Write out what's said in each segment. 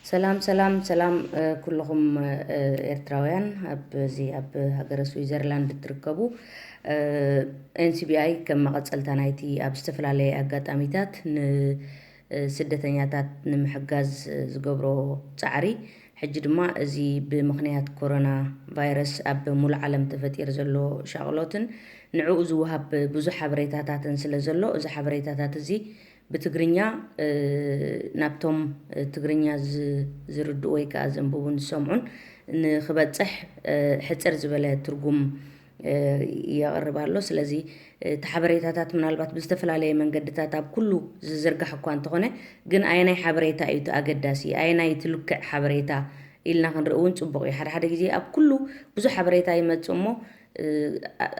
ሰላም ሰላም ሰላም ኩሉኹም ኤርትራውያን ኣብዚ ኣብ ሃገረ ስዊዘርላንድ እትርከቡ ኤንሲቢኣይ ከም መቐጸልታ ናይቲ ኣብ ዝተፈላለየ ኣጋጣሚታት ንስደተኛታት ንምሕጋዝ ዝገብሮ ጻዕሪ ሕጂ ድማ እዚ ብምኽንያት ኮሮና ቫይረስ ኣብ ሙሉእ ዓለም ተፈጢሩ ዘሎ ሻቕሎትን ንዕኡ ዝወሃብ ብዙሕ ሓበሬታታትን ስለ ዘሎ እዚ ሓበሬታታት እዚ ብትግርኛ ናብቶም ትግርኛ ዝርድኡ ወይ ከኣ ዘንብቡን ዝሰምዑን ንክበጽሕ ሕጽር ዝበለ ትርጉም የቕርብ ኣሎ። ስለዚ እቲ ሓበሬታታት ምናልባት ብዝተፈላለየ መንገድታት ኣብ ኩሉ ዝዝርጋሕ እኳ እንተኾነ ግን ኣየናይ ሓበሬታ እዩ እቲ ኣገዳሲ ኣየናይ እቲ ልክዕ ሓበሬታ ኢልና ክንርኢ እውን ጽቡቕ እዩ። ሓደ ሓደ ግዜ ኣብ ኩሉ ብዙሕ ሓበሬታ ይመጽእ እሞ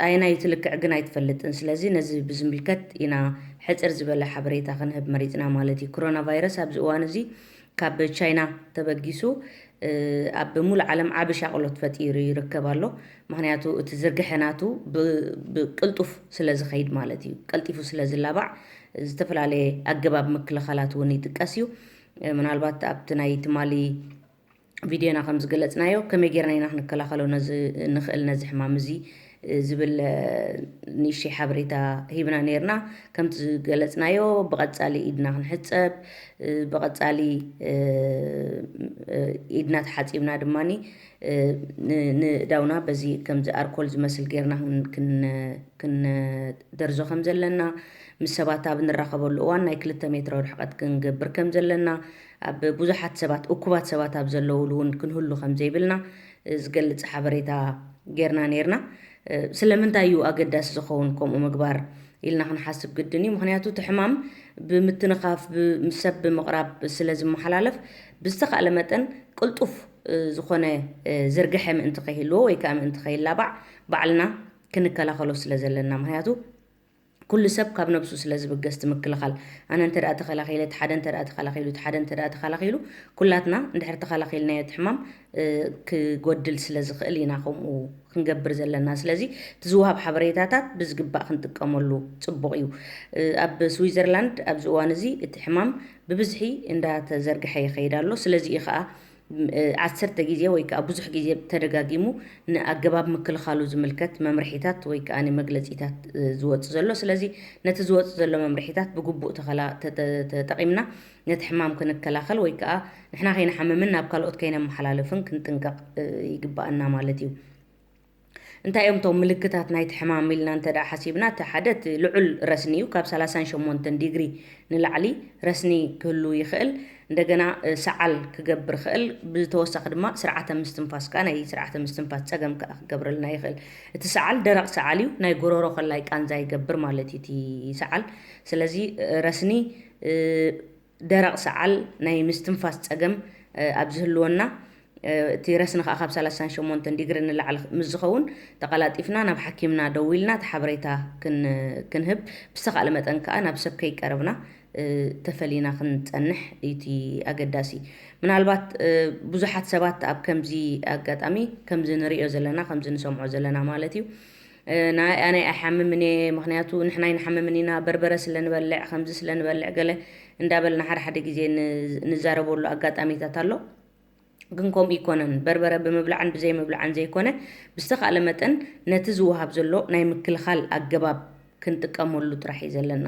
ኣየናይቲ ልክዕ ግን ኣይትፈልጥን ስለዚ ነዚ ብዝምልከት ኢና ሕጽር ዝበለ ሓበሬታ ክንህብ መሪጽና ማለት እዩ። ክሮና ቫይረስ ኣብዚ እዋን እዚ ካብ ቻይና ተበጊሱ ኣብ ሙሉእ ዓለም ዓቢ ሻቕሎት ፈጢሩ ይርከብ ኣሎ። ምክንያቱ እቲ ዝርግሐ ናቱ ብቅልጡፍ ስለ ዝኸይድ ማለት እዩ። ቀልጢፉ ስለ ዝላባዕ ዝተፈላለየ ኣገባብ ምክልኻላት እውን ይጥቀስ እዩ። ምናልባት ኣብቲ ናይ ትማሊ ቪድዮና ከም ዝገለጽናዮ ከመይ ጌርና ኢና ክንከላኸሎ ንኽእል ነዚ ሕማም እዚ ዝብል ንእሽተይ ሓበሬታ ሂብና ነርና ከምቲ ዝገለጽናዮ ብቐጻሊ ኢድና ክንሕጸብ ብቐጻሊ ኢድና ተሓጺብና ድማ ንእዳውና በዚ ከምዚ ኣርኮል ዝመስል ጌርና ክንደርዞ ከም ዘለና ምስ ሰባት ኣብ ንራኸበሉ እዋን ናይ ክልተ ሜትሮ ርሕቐት ክንገብር ከም ዘለና ኣብ ብዙሓት ሰባት፣ እኩባት ሰባት ኣብ ዘለዉሉ እውን ክንህሉ ከም ዘይብልና ዝገልጽ ሓበሬታ ጌርና ኔርና። ስለምንታይ እዩ ኣገዳሲ ዝኸውን ከምኡ ምግባር ኢልና ክንሓስብ ግድን እዩ። ምኽንያቱ እቲ ሕማም ብምትንኻፍ፣ ብ ምስ ሰብ ብምቕራብ ስለ ዝመሓላለፍ ብዝተኻእለ መጠን ቅልጡፍ ዝኾነ ዝርግሐ ምእንቲ ከይህልዎ ወይ ከኣ ምእንቲ ከይላባዕ ባዕልና ክንከላኸሎ ስለ ዘለና። ምኽንያቱ። ኩሉ ሰብ ካብ ነብሱ ስለ ዝብገስ እቲ ምክልኻል ኣነ እንተ ተኸላኺለ እቲ ሓደ እንተ ተኸላኺሉ እቲ ሓደ እንተ ተኸላኺሉ ኩላትና እንድሕር ተኸላኺልናዮ እቲ ሕማም ክጎድል ስለ ዝኽእል ኢና ከምኡ ክንገብር ዘለና ስለዚ እቲ ዝወሃብ ሓበሬታታት ብዝግባእ ክንጥቀመሉ ጽቡቕ እዩ ኣብ ስዊዘርላንድ ኣብዚ እዋን እዚ እቲ ሕማም ብብዝሒ እንዳተዘርግሐ ይኸይድ ኣሎ ስለዚ እዩ ኸኣ ዓሰርተ ግዜ ወይ ከኣ ብዙሕ ግዜ ተደጋጊሙ ንኣገባብ ምክልኻሉ ዝምልከት መምርሒታት ወይ ከኣ መግለጺታት ዝወጽእ ዘሎ። ስለዚ ነቲ ዝወጽእ ዘሎ መምርሒታት ብግቡእ ተኸላ ተጠቒምና ነቲ ሕማም ክንከላኸል ወይ ከኣ ንሕና ከይንሓምምን ናብ ካልኦት ከይነመሓላልፍን ክንጥንቀቕ ይግበኣና ማለት እዩ። እንታይ እዮም እቶም ምልክታት ናይቲ ሕማም ኢልና እንተድኣ ሓሲብና፣ እቲ ሓደ እቲ ልዑል ረስኒ እዩ፣ ካብ ሰላሳን ሸሞንተን ዲግሪ ንላዕሊ ረስኒ ክህሉ ይኽእል። እንደገና ሰዓል ክገብር ይኽእል፣ ብተወሳኺ ድማ ስርዓተ ምስትንፋስ ከኣ ናይ ስርዓተ ምስትንፋስ ጸገም ከኣ ክገብረልና ይኽእል። እቲ ሰዓል ደረቕ ሰዓል እዩ፣ ናይ ጎረሮ ከላይ ቃንዛ ይገብር ማለት እዩ እቲ ሰዓል። ስለዚ ረስኒ ደረቕ ሰዓል ናይ ምስትንፋስ ጸገም ኣብ ዝህልወና፣ እቲ ረስኒ ከኣ ካብ ሰላሳን ሸሞንተን ዲግሪ ንላዕሊ ምስ ዝኸውን፣ ተቐላጢፍና ናብ ሓኪምና ደዊልና እቲ ሓበሬታ ክንህብ፣ ብዝተኻእለ መጠን ከኣ ናብ ሰብ ከይቀረብና ተፈሊና ክንጸንሕ እዩ እቲ ኣገዳሲ። ምናልባት ብዙሓት ሰባት ኣብ ከምዚ ኣጋጣሚ ከምዚ ንርእዮ ዘለና ከምዚ ንሰምዖ ዘለና ማለት እዩ፣ ናይ ኣነ ኣይሓምምን እየ ምክንያቱ ንሕና ኣይንሓምምን ኢና በርበረ ስለ ንበልዕ ከምዚ ስለ ንበልዕ ገለ እንዳበልና ሓደ ሓደ ግዜ ንዛረበሉ ኣጋጣሚታት ኣሎ ግን ከምኡ ይኮነን በርበረ ብምብላዕን ብዘይምብላዕን ዘይኮነ ብዝተኻእለ መጠን ነቲ ዝወሃብ ዘሎ ናይ ምክልኻል ኣገባብ ክንጥቀመሉ ጥራሕ እዩ ዘለና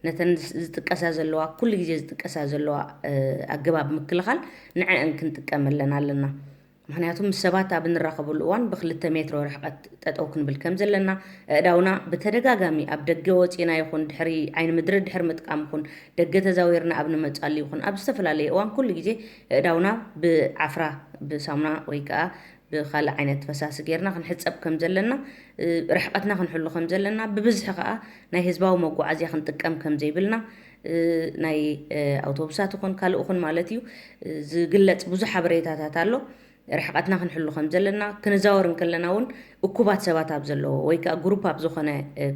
ነተን ዝጥቀሳ ዘለዋ ኩሉ ግዜ ዝጥቀሳ ዘለዋ ኣገባብ ምክልኻል ንዐአን ክንጥቀመለን ኣለና ምኽንያቱ ምስ ሰባት ኣብ እንራኸበሉ እዋን ብክልተ ሜትሮ ርሕቐት ጠጠው ክንብል ከምዘለና፣ ኣእዳውና ብተደጋጋሚ ኣብ ደገ ወፂእና ይኹን ድሕሪ ዓይኒ ምድሪ ድሕሪ ምጥቃም ይኹን ደገ ተዛዊርና ኣብ ንመፅኣሉ ይኹን ኣብ ዝተፈላለየ እዋን ኩሉ ግዜ ኣእዳውና ብዓፍራ ብሳሙና ወይ ከዓ ብኻልእ ዓይነት ፈሳሲ ጌርና ክንሕፀብ ከምዘለና ርሕቐትና ክንሕሉ ከምዘለና ብብዝሒ ከዓ ናይ ህዝባዊ መጓዓዝያ ክንጥቀም ከምዘይብልና ናይ ኣውቶቡሳት ኹን ካልእ ኹን ማለት እዩ ዝግለፅ ብዙሕ ሓበሬታታት ኣሎ። ርሕቐትና ክንሕሉ ከም ዘለና ክንዛወር እንከለና እውን እኩባት ሰባት ኣብ ዘለዎ ወይ ከዓ ግሩፕ ኣብ ዝኾነ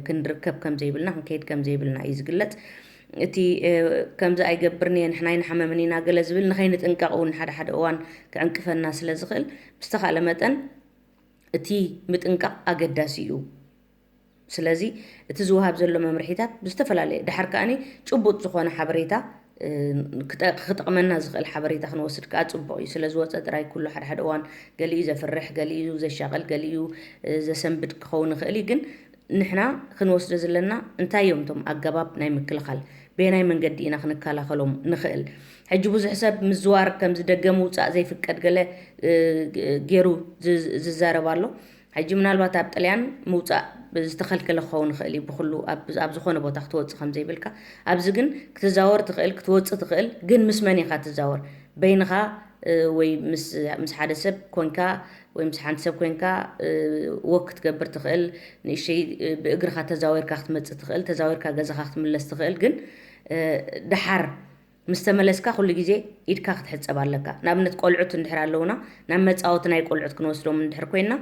ክንርከብ ከም ዘይብልና ክንከይድ ከም ዘይብልና እዩ ዝግለጽ እቲ ከምዚ ኣይገብርን እየ ንሕና ኣይንሓመምን ኢና ገለ ዝብል ንኸይንጥንቀቕ እውን ሓደ ሓደ እዋን ክዕንቅፈና ስለ ዝኽእል ብዝተኻእለ መጠን እቲ ምጥንቃቕ ኣገዳሲ እዩ ስለዚ እቲ ዝወሃብ ዘሎ መምርሒታት ብዝተፈላለየ ድሓር ከኣ ጭቡጥ ዝኾነ ሓበሬታ ክጠቕመና ዝኽእል ሓበሬታ ክንወስድ ከኣ ጽቡቕ እዩ። ስለ ዝወጸ ጥራይ ኩሉ ሓድሓደ እዋን ገሊኡ ዘፍርሕ፣ ገሊኡ ዘሻቕል፣ ገሊኡ ዘሰንብድ ክኸውን ይኽእል እዩ። ግን ንሕና ክንወስዶ ዘለና እንታይ እዮም እቶም ኣገባብ ናይ ምክልኻል? በየናይ መንገዲ ኢና ክንከላኸሎም ንኽእል? ሕጂ ብዙሕ ሰብ ምዝዋር ከምዚ ደገ ምውጻእ ዘይፍቀድ ገለ ጌሩ ዝዛረብ ኣሎ። ሕጂ ምናልባት ኣብ ጥልያን ምውጻእ ዝተኸልከለ ክኸውን ይኽእል እዩ፣ ብኹሉ ኣብ ኣብ ዝኾነ ቦታ ክትወጽእ ከም ዘይብልካ፣ ኣብዚ ግን ክትዛወር ትኽእል ክትወጽእ ትኽእል ግን ምስ መን ኢኻ ትዛወር በይንኻ ወይ ምስ ምስ ሓደ ሰብ ኮንካ ወይ ምስ ሓንቲ ሰብ ኮንካ ወክ ክትገብር ትኽእል ንእሽተይ ብእግርኻ ተዛዊርካ ክትመጽእ ትኽእል ተዛዊርካ ገዛኻ ክትምለስ ትኽእል ግን ደሓር ምስ ተመለስካ ኩሉ ግዜ ኢድካ ክትሕጸብ ኣለካ። ንኣብነት ቆልዑት እንድሕር ኣለዉና ናብ መጻወቲ ናይ ቆልዑት ክንወስዶም እንድሕር ኮይንና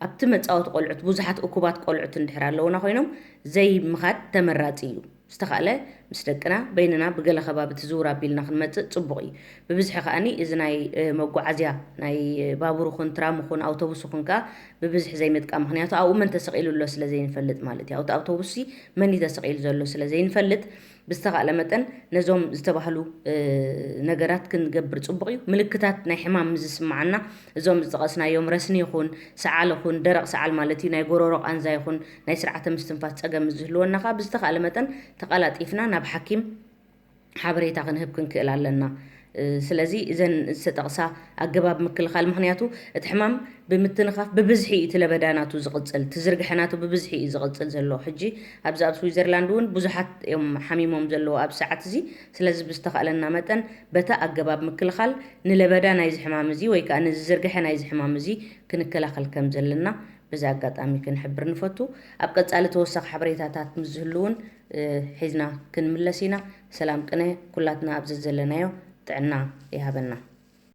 ኣብቲ መጻወቲ ቆልዑት ብዙሓት እኩባት ቆልዑት እንድሕር ኣለዉና ኮይኖም ዘይ ምኻድ ተመራጺ እዩ። ዝተኻእለ ምስ ደቅና በይንና ብገለ ከባቢ ትዝውር ኣቢልና ክንመጽእ ጽቡቕ እዩ። ብብዝሒ ከኣ እዚ ናይ መጓዓዝያ ናይ ባቡር ይኹን ትራም ይኹን ኣውቶቡስ ይኹን ከኣ ብብዝሒ ዘይ ምጥቃም ምኽንያቱ ኣብኡ መን ተሰቒሉ ኣሎ ስለ ዘይ ንፈልጥ ማለት እዩ። ኣብቲ ኣውቶቡስሲ መን እዩ ተሰቒሉ ዘሎ ስለ ዘይ ንፈልጥ ብዝተኻእለ መጠን ነዞም ዝተባህሉ ነገራት ክንገብር ጽቡቕ እዩ። ምልክታት ናይ ሕማም ምስ ዝስምዓና እዞም ዝጠቐስናዮም ረስኒ ይኹን ሰዓል ይኹን ደረቕ ሰዓል ማለት እዩ ናይ ጎሮሮ ቃንዛ ይኹን ናይ ስርዓተ ምስትንፋስ ጸገም ምስ ዝህልወና ከኣ ብዝተኻእለ መጠን ተቐላጢፍና ናብ ሓኪም ሓበሬታ ክንህብ ክንክእል ኣለና። ስለዚ እዘን ዝተጠቕሳ ኣገባብ ምክልኻል ምኽንያቱ እቲ ሕማም ብምትንኻፍ ብብዝሒ እዩ እቲ ለበዳ ናቱ ዝቕጽል፣ እቲ ዝርግሐ ናቱ ብብዝሒ እዩ ዝቕጽል ዘሎ። ሕጂ ኣብዚ ኣብ ስዊዘርላንድ እውን ብዙሓት እዮም ሓሚሞም ዘለዉ ኣብዚ ሰዓት እዚ። ስለዚ ብዝተኻእለና መጠን በታ ኣገባብ ምክልኻል ንለበዳ ናይዚ ሕማም እዚ ወይ ከኣ ነዚ ዝርግሐ ናይዚ ሕማም እዚ ክንከላኸል ከም ዘለና በዚ ኣጋጣሚ ክንሕብር ንፈቱ። ኣብ ቀጻሊ ተወሳኺ ሓበሬታታት ምስ ዝህሉ እውን ሒዝና ክንምለስ ኢና ሰላም ቅነ ኩላትና ኣብዘዘለናዮ ጥዕና ይሃበና።